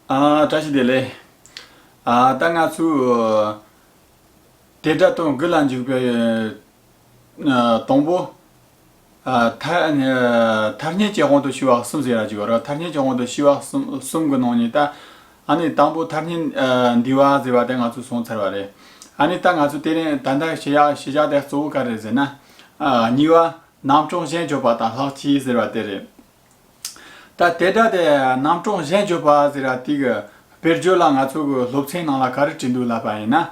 བཀྲ་ཤིས་བདེ་ལེགས། ད་ང་ཚོའི། དེ་དགྲ་དང་དགུ་ལ་འཇུག་པའི། དང་པོ། མཐར་སྙན་བརྒྱད་གོང་དུ་ཞི་བ་གསུམ་ཟེར་ར་ཅིག་གོ་ར་མཐར་སྙན་བརྒྱད་གོང་དུ་ཞི་བ་གསུམ་གི་ནང་ནས་ད། ཨཱ་ནི་དང་པོ་མཐར་སྙན་འདི་བ་ཟེར་བ་དེ་ང་ཚོས་བཟུང་ཚར་བ་རེད། ཨཱ་ནི་ད་ང་ཚོས་དེ་རིང་ད་ལྟ་ཞི་བཞག་དེ་གཙོ་བོ་ག་རེ་ཟེར་ན། གཉིས་པ། རྣམ་གྲངས་གཞན་བརྗོད་པ་དང་ལྷག་ཆད་ཟེར་བ་དེ་རེད། ད་དེ་སྒྲ་དེ་རྣམ་གྲངས་གཞན་བརྗོད་པ་ཟེར་ར་ཏིག། བེར་བརྗོད་ལ་ང་ཚོ་གི་སློབ་ཚན་ནང་ལ་ག་རེ་བྲིས་འདུག་ལབ་པ་ཡིན་ན།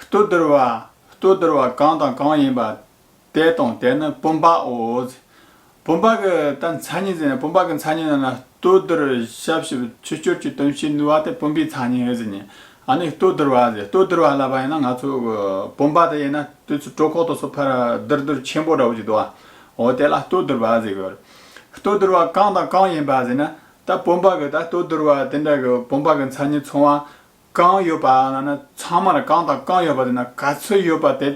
ལྟོ་ལྡིར་བ། ལྟོ་ལྡིར་བ་གང་དང་གང་ཡིན་པ། དེ་དང་དེ་ནི་བུམ་པའོ། བུམ་པ་གི་ད་མཚན་ཉིད་ཟེར་ན་བུམ་པ་གི་མཚན་ཉིད་རྣམས་ལ་ལྟོ་ལྡིར་ཞབས་ཞུ་ཆུ་སྐྱུར་གྱི་དོན་བྱེད་ནུས་པ་དེ་བུམ་པའི་མཚན་ཉིད་ཟེར་ཉིན་ཨ་ནི་ལྟོ་ལྡིར་བ་ཟེར་ལྟོ་ལྡིར་བ་ལབ་པ་ཡིན་ན་ང་ཚོ་གི་བུམ་པ་དེ་ཡིན་ན་དུས་ཚོད་སྤྲོ་ཁོག་ཏུ་སོ་ཕར་ལྡིར་ལྡིར་ཆེན་པོ་འདྲ་བོ་ཞིག་འདུག་བ། འོ་དེ་ལ་ལྟོ་ལྡིར་བ་ཟེར་དགོས། ལྟོ་བསྡུར་བ་གང་དང་གང་ཡིན་པ་ཟེར་ན། ད་བུམ་པ་གི་ད་ལྟོ་བསྡུར་བ་དེ་འདྲ་གི་བུམ་པ་གི་མཚན་ཉིད་མཚུངས་བ་གང་ཡོད་པ་ལ་ན་ཚང་མ་ལ་གང་དང་གང་ཡོད་པ་དེ་ན་ག་ཚོད་ཡོད་པ་དེ་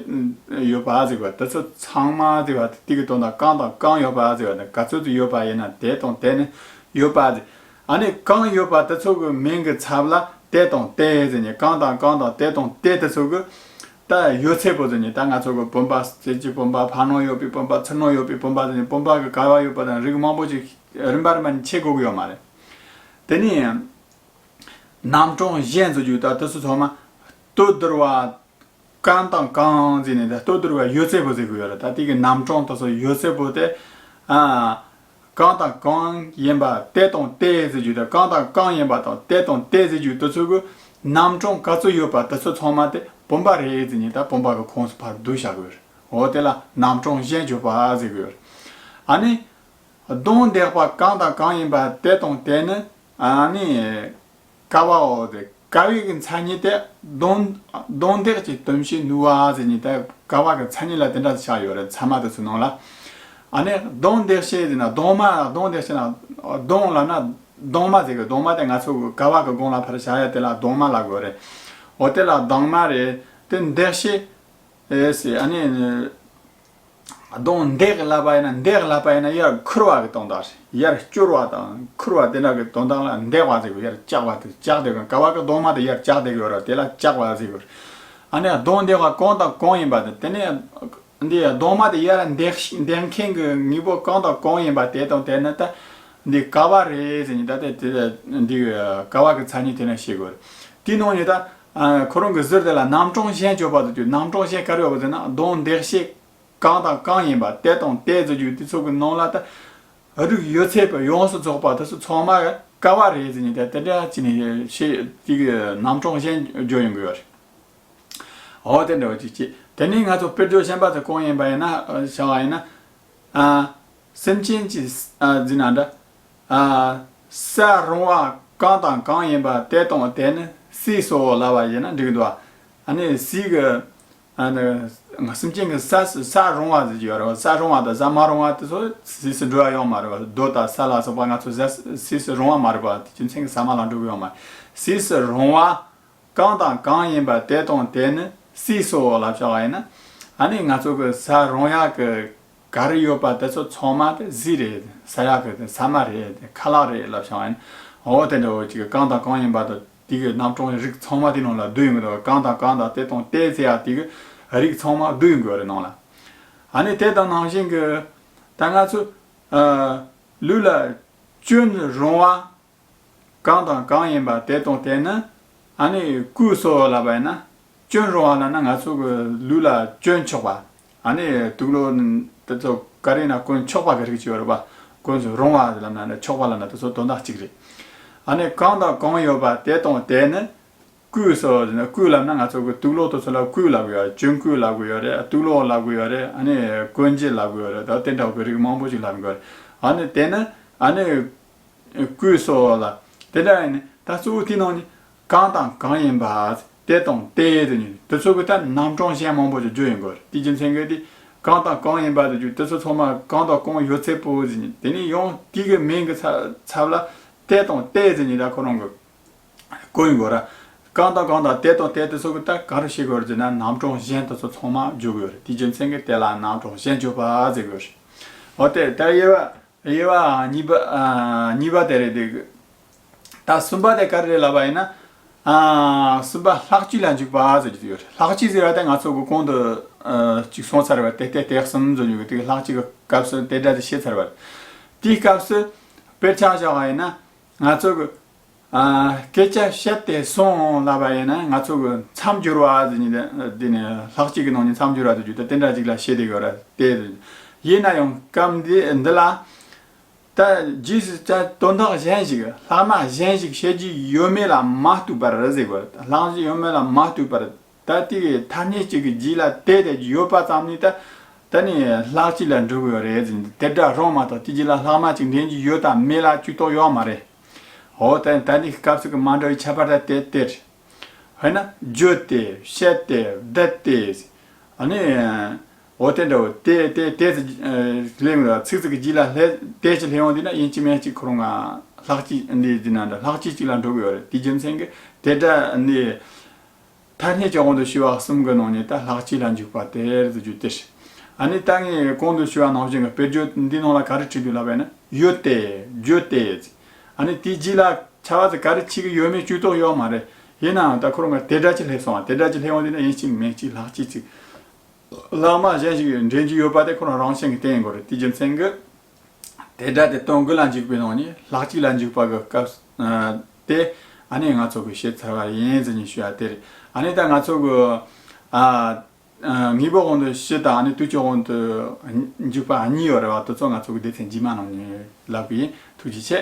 ཡོད་པ་ཟེར་བ་དེ་ཚོ་ཚང་མ་ཟེར་བ་དེ་གི་དོན་དང་གང་དང་གང་ཡོད་པ་ཟེར་བ་དེ་ག་ཚོད་དུ་ཡོད་པ་ཡིན་ན་དེ་དང་དེ་ནི་ཡོད་པ་ཟེར། ཨ་ནི་གང་ཡོད་པ་དེ་ཚོ་གི་མིང་གི་ཚབ་ལ་དེ་དང་དེ་ཟེར་ནས་གང་དང་གང་དང་དེ་དང་དེ་དེ་ཚོ་གི་ད་ཡོད་ཚད་པོ་ཏི་ནི་ད་ང་ཚོ་གི་བུམ་པ་རྩེ་གཅིག་བུམ་པ་བར་སྣང་ཡོད་པའི་བུམ་པ་ཚུར་སྣང་ཡོད་པའི་བུམ་པ་ཏི་ནི་བུམ་པ་གི་གར་བ་ཡོད་པ་དང་རིགས་མང་པོ་ཅིག་རིམ་པ་རིམ་པ་ནི་ཕྱེ་དགོས་ཀྱི་ཡོད་མ་རེད། དེ་ནི། རྣམ་གྲངས་གཞན་ཚོ་རྒྱུད་ད་དུས་སུ་ཚོགས་མ། ལྟོས་བསྡུར་བ། གང་དང་གང་རྩིས་ནས་ད་ལྟོས་བསྡུར་བ་ཡོད་ཚད་པོ་རྩི་གི་ཡོད་རེད་ད་ཏིག་གི་རྣམ་གྲངས་དོ་སོ་ཡོད་ཚད་པོ་ཏེ། གང་དང་གང་ཡིན་པ་དེ་དང་དེའི་རྫས་རྒྱུ་དང་གང་དང་གང་ཡིན་པ་དང་དེ་དང་དེའི་རྫས་རྒྱུ་དེ་ཚོ་གི་རྣམ་གྲངས་ག་ཚོད་ཡོད་པ་དེ་ཚོ་ཚང་མ་དེ་བུམ་པ་རེའི་རྫས་ཉིད་དང་བུམ་པ་གི་ཁོངས་སུ་བར་བསྡུ་བྱ་དགོས། འོ་དེ་ལ་རྣམ་གྲངས་གཞན་བརྗོད་པ་ཟེར་གི་ཡོད། ཨ་ནི། གདོན་བདེགས་པ་གང་དང་གང་ཡིན་པ་དེ་དང་དེ་ནི། ཨ་ནི། ཀ་བའོ་དེ། དགའ་བའི་མཚན་ཉིད་དེ་གདོན། གདོན་བདག་ཅེས་དོན་བྱེད་ནུ་བ་ཟེར་ཉིད་དེ་དགའ་བ་གི་མཚན་ཉིད་ལ་དེ་འདྲ་ཞེས་བྱ་ཡོད་རེད་ཚད་མ་དུ་ཚུལ་སྣང་ལ། ཨ་ནི་གདོན་བདག་བྱེད་ཟེར་ན་གདོན་མ་ལ་གདོན་བདག་བྱེད་ན། གདོན་ལབ་ན་གདོན་མ་ཟེར་གི་གདོན་མ་དེ་ང་ཚོ་དགའ་བ་གི་དགོངས་ལ་ཕར་བཞག་ཡ་དེ་ལ་གདོན་མ་ལབ་དགོས་རེད། འོ་དེ་ལ་གདོན་མ་རེད་དེ་བདག་བྱེད། ཨ་ནི། གདོང་འདེགས་བསླབ་པ་ཡིན་ན་འདེགས་བསླབ་པ་ཡིན་ན་ཡར་འཁུར་བ་གི་གདོང་འདག་ཟེར་ཡར་བསྐྱུར་བ་དང་འཁུར་བ་དེ་འདྲ་གི་གདོང་འདག་ལ་འདེགས་བ་ཟེར་གོ་ཡར་བཀྱག་པ་དེ་བཀྱག་འདེགས་ག་བ་གི་གདོང་མ་དེ་ཡར་བཀྱག་འདེགས་ཡོད་ར་དེ་ལ་བཀྱག་པ་ཟེར་གོ། ཨ་ནི་གདོང་འདེགས་བ་གང་དང་གང་ཡིན་པ་དེ་དེ་ནི་འདི་གདོང་མ་དེ་ཡར་འདེགས་འདེགས་མཁན་གི་དངོས་པོ་གང་དང་གང་ཡིན་པ་དེ་དང་དེ་ནི་ད་འདི་ག་བ་རེད་ཟེར་ནས་ད་དེ་དེ་འདི་གི་ག་བ་གི་ཚ་ནི་དེ་ནི་བཤད་དགོས་རེད་དེའི་ནང་ནས་ད་ཁོ་རང་གི་ཟུར་དེ་ལ་རྣམ་གྲངས་གཞན་སྤྱོད་པ་དུ་གྱུར་རྣམ་གྲངས་གཞན་ག་རེ་ཡོད་པ་དེ་ན་གདོང་འདེགས་བྱེད་གང་དང་གང་ཡིན་པ་དེ་དང་དེ་རྫོགས་རྒྱུ་དེ་ཚོ་གི་ནང་ལ་ད་རུག་ཡོད་ཚད་པོ་ཡོངས་སུ་རྫོགས་པ་དེ་ཚོ་ཚང་མ་ག་བ་རེད་ཟེར་ནས་དེ་དེ་འདྲ་ཅི་ནས་ཤེས་ཅི་གི་རྣམ་གྲངས་གཞན་སྦྱོར་ཡོང་གི་ཡོད་རེད། འོ་དེ་འདྲ་བ་ཅིག་བྱེད་དེ་ནས་ང་ཚོ་དཔེར་བརྗོད་ཤན་པ་དེ་གང་ཡིན་པ་ཡིན་ན་བྱ་བ་ཡིན་ན། སེམས་ཅན་གྱི་ཟིན་ན་འདྲ། གསལ་རུང་བ་གང་དང་གང་ཡིན་པ་དེ་དང་དེ་ནི་སྲིད་སོགས་ལ་བ་ཡིན་ན་འགྲིག་འདུག་ཨ་ནི་སྲིད་ཀྱི། སེམས་ཅན་གྱི་གསལ་རུང་བ་ཟེར་གྱི་ཡོད་རེད་བ་གསལ་རུང་བ་དང་གསལ་མ་རུང་བ་དེ་ཚོ་སྲིད་སུ་འགྲོ་ཡ་ཡོང་མ་རེད་བ་རྡོ་དང་ས་ལ་སོགས་པ་ང་ཚོ་སྲིད་སུ་རུང་བ་མ་རེད་བ་དེ་རྒྱུ་མཚན་གྱི་ས་མ་ལ་འགྲོ་གི་ཡོང་མ་རེད་སྲིད་སུ་རུང་བ་གང་དང་གང་ཡིན་པ་དེ་དང་དེ་ནི་སྲིད་སོགས་ལ་བྱ་བ་ཡིན་ན་ཨ་ནི་ང་ཚོ་གི་གསལ་རུང་ཡ་གི་ག་རེ་ཡོད་པ་དེ་ཚོ་ཚང་མ་དེ་གཟི་རེད་ས་ཡག་གི་དེ་ས་མ་རེད་དེ་ཁ་ལག་རེད་ལབ་བྱང་ཨོ་དེ་འདྲ་བོ་ཅིག་གང་དང་གང་ཡིན་པ་དེ་དེ་གི་རྣམ་གྲངས་རིགས་ཚང་མ་དེ་ནང་ལ་བསྡུ་ཡོང་གི་འདུག་གང་དང་གང་དང་དེ་དང་དེ་ཟེར་ཡག་དེ་གི་རིགས་ཚང་མ་བསྡུ་ཡོང་གི་ཡོད་རེད་ནང་ལ་ཨ་ནི་དེ་དང་ནང་བཞིན་གི་ད་ང་ཚོ་ལུས་ལ་སྐྱོན་རུང་བ་གང་དང་གང་ཡིན་པ་དེ་དང་དེ་ནི། ཨ་ནི་སྐུའི་སྲོག་ལ་བས་ན། སྐྱོན་རུང་བ་ལ་ན་ང་ཚོ་གི་ལུས་ལ་སྐྱོན་ཆོག་པ། ཨ་ནི་དུག་ལོ་དེ་ཚོ་ག་རེ་ན་དཀོན་ཆོག་པ་གི་རིགས་ཀྱི་ཡོ་རོ་པ་དཀོན་ཟོ་རུང་བ་ལ་ན་ན་ཆོག་པ་ལ་ན་དེ་ཚོ་དོན་དག་གཅིག་རེད། ཨ་ནི་གང་དང་གང་ཡོད་པ་དེ་དང་དེ་ནི། སྐུའི་སྲོག་ལ་ན་སྐུ་ལ་ན་ང་ཚོ་གི་དུག་ལོ་དེ་ཚོ་ལ་སྐུའི་ལ་གུ་ཡོ་རེད་སྐྱོན་སྐུའི་ལ་གུ་ཡོ་རེད་དུག་ལོ་ལ་གུ་ཡོ་རེད་ཨ་ནི་དཀོན་རྗེ་ལ་གུ་ཡོ་རེད་དོ་དེ་འདྲ་བ་གི་རིགས་མང་པོ་ཅིག་ལ་ན་གོ་རེད། ཨ་ནི་དེ་ནི་ཨ་ནི། སྐུའི་སྲོག་ལ། དེ་འདྲ་ཡིན་ནི་ད་གཙོ་བོའི་དུས་ནང་ནི། གང་དང་གང་ཡིན་པ། དེ་དང་དེ་ཡིན་དུ་ནི། དེ་ཚོ་གི་ཐད་རྣམ་གྲངས་གཞན་མང་པོ་ཞིག་བརྗོད་ཡོད་འགོ་རེད་དེའི་རྒྱུ་མཚན་གལ་ཏེ། གང་དང་གང་ཡིན་པ་དེ་རྒྱུ་དེ་ཚོ་ཚང་མར་གང་དང་གང་ཡོད་ཚད་པོ་ཟེར་ནི་དེ་ནི་ཡང་དུས་ཀྱི་མིང་གི་ཚབ་ལ། དེ་དང་དེ་ཟེར་ནི་ད་ཁོ་རང་གི། གོ་ཡོད་འགོ་ར། གང་དང་གང་དང་དེ་དང་དེ་དེ་ཚོ་གི་ཐད་གང་རུ་བཤད་དགོས་ར་ཟེར་ན་རྣམ་གྲངས་གཞན་དེ་ཚོ་ཚང་མ་བརྗོད་དགོས་ཡོད་རེད་དེའི་རྒྱུ་མཚན་གྱི་དེ་ལ་རྣམ་གྲངས་གཞན་བརྗོད་པ་ཟེར་དགོས་རེད། འོ་དེ་ལྟར་དབྱེ་བ་དབྱེ་བ་གཉིས་པ་དེ་རེད་འདུག་ད་གསུམ་པ་དེ་ག་རེ་རེད་ལབ་པ་ཡིན་ན། གསུམ་པ་ལྷག་བཅུ་ལ་འཇུག་པ་ཟེར་གྱི་ཡོད་རེད་ལྷག་བཅུ་ཟེར་བ་དེ་ང་ཚོ་དགོས་གོང་དུ་ཅིག་སོང་ཚར་བ་དེ་དེ་དེ་གསུམ་བཟོ་འཇུག་དེ་ལྷག་བཅུ་གི་སྐབས་སུ་དེ་འདྲ་དེ་བཤད་ཚར་བ་རེད། དེའི་སྐབས་སུ་དཔེར་ཆ་བཞག་པ་ཡིན་ན་ང་ཚོ་གི། སྐད་ཆ་བཤད་དེ་སོང་ལབ་པ་ཡིན་ན་ང་ཚོ་གི་མཚམས་སྦྱོར་བ་ཟེར་ནི་དེ་ནི་ལྷག་གཅིག་གི་ནང་ནས་མཚམས་སྦྱོར་བ་དུ་གྱུར་ཏེ་དེ་འདྲ་ཅིག་ལ་བཤད་དེ་གི་རེད་དེ། ཡིན་ན་ཡང་སྐབས་འདི་འདི་ལ། ད་རྗེས་སུ་ད་དོན་དག་གཞན་ཞིག་ལྷག་མ་གཞན་ཞིག་བཤད་རྒྱུ་ཡོད་མེད་ལ་མ་ལྟོས་པར་ཟེར་དགོས་རེད་ལྷག་ཡོད་མེད་ལ་མ་ལྟོས་པར་ད་ལྟའི་ཐ་སྙད་གཅིག་གི་རྗེས་ལ་དེ་དེ་ཡོད་པ་ཙམ་ནི་ད་ད་ནི་ལྷག་གཅིག་ལ་འགྲོ་གི་རེད་ཟེར་ནས་དེ་འདྲ་རང་མ་གཏོགས་དེ་རྗེས་ལ་ལྷག་མ་གཅིག་འདྲེན་གྱི་ཡོད་དམ་མེད་ལ་ཅུས་རྟོགས་ཡོད་མ་རེད། འོ་ད་ད་ནི་སྐབས་སུ་གི་མ་འདྲ་བའི་ཁྱད་པར་དེ་དེ་རེད། དཔེར་ན་བརྗོད་དེ་བཤད་དེ་བསྡད་དེ། ཨ་ནི། འོ་དེ་འདྲ་བོ་དེ་དེ་དེ་ཟེར་སླེབས་ཡོང་ལ་ཚིག་ཚིག་གི་རྗེས་ལ་ལྷད་དེ་ཅིག་སླེབས་ཡོང་དུས་ན་དབྱིན་ཅི་མན་ཅིག་ཁོ་རང་ང་ལྷག་གཅིག་འདི་འདི་ན་འདྲ་ལྷག་གཅིག་ཅིག་ལ་འགྲོ་གི་ཡོད་རེད་དེ་རྒྱུ་མཚན་གྱིས་དེ་འདྲ་ནི། ཐ་སྙད་ཀྱི་དབང་དུ་བྱས་པ་གསུམ་གྱི་ནང་ནས་ད་ལྷག་གཅིག་ལ་འཇུག་པ་དེར་དུ་གྱུར་ཏེ། ཨ་ནི་ད་ངས་གོང་དུ་ཞུས་པ་ནང་བཞིན་གྱི་དཔེར་བརྗོད་འདིའི་ནང་ལ་ག་རེ་བྲིས་འདུག་ལབ་པས་ན་ཡོད་དེ། བརྗོད་དེ། ཨ་ནི་དེའི་རྗེས་ལ་བྱ་བ་དེ་ག་རེ་བྱེད་ཀྱི་ཡོད་མེད་ཅུས་རྟོགས་ཡོད་པ་མ་རེད། ཡིན་ནའང་ད་ཁོ་རང་གི་དེ་སྒྲ་གཅིག་ལྷད་སོང་བ་དེ་སྒྲ་གཅིག་ལྷད་འོང་དུས་ན་ཡིན་གཅིག་མིན་གཅིག་ལྷག་གཅིག་ཅིག། ལྷག་མ་གཞན་ཞིག་འདྲེན་རྒྱུ་ཡོད་པ་དེ་ཁོ་རང་རང་བཞིན་གྱི་དེ་ཡིན་དགོས་རེད་དེ་རྒྱུ་མཚན་གྱིས། དེ་སྒྲ་དེ་སྟོང་དགུ་ལ་འཇུག་པའི་ནང་ནས་ལྷག་གཅིག་ལ་འཇུག་པ་གི་སྐབས་དེ་ཨ་ནེ་ང་ཚོ་གི་ཤེས་ཚར་བ་ཡིན་ཟེར་ནས་ཞུ་བ་དེ་རེད་ཨ་ནེ་ད་ང་ཚོ་གི་དངོས་པོ་གོང་དུ་ཤེས་དང་ཨ་ནེ་བསྟུད་ཕྱོགས་གོང་དུ་འཇུག་པ་གཉིས་ཡོད་རེད་བ་དེ་ཚོ་ང་ཚོ་གི་སྡེ་ཚན་རྗེས་མ་རྣམས་ནས་ལབ་པའི་ཐུགས་རྗེ་ཆེ།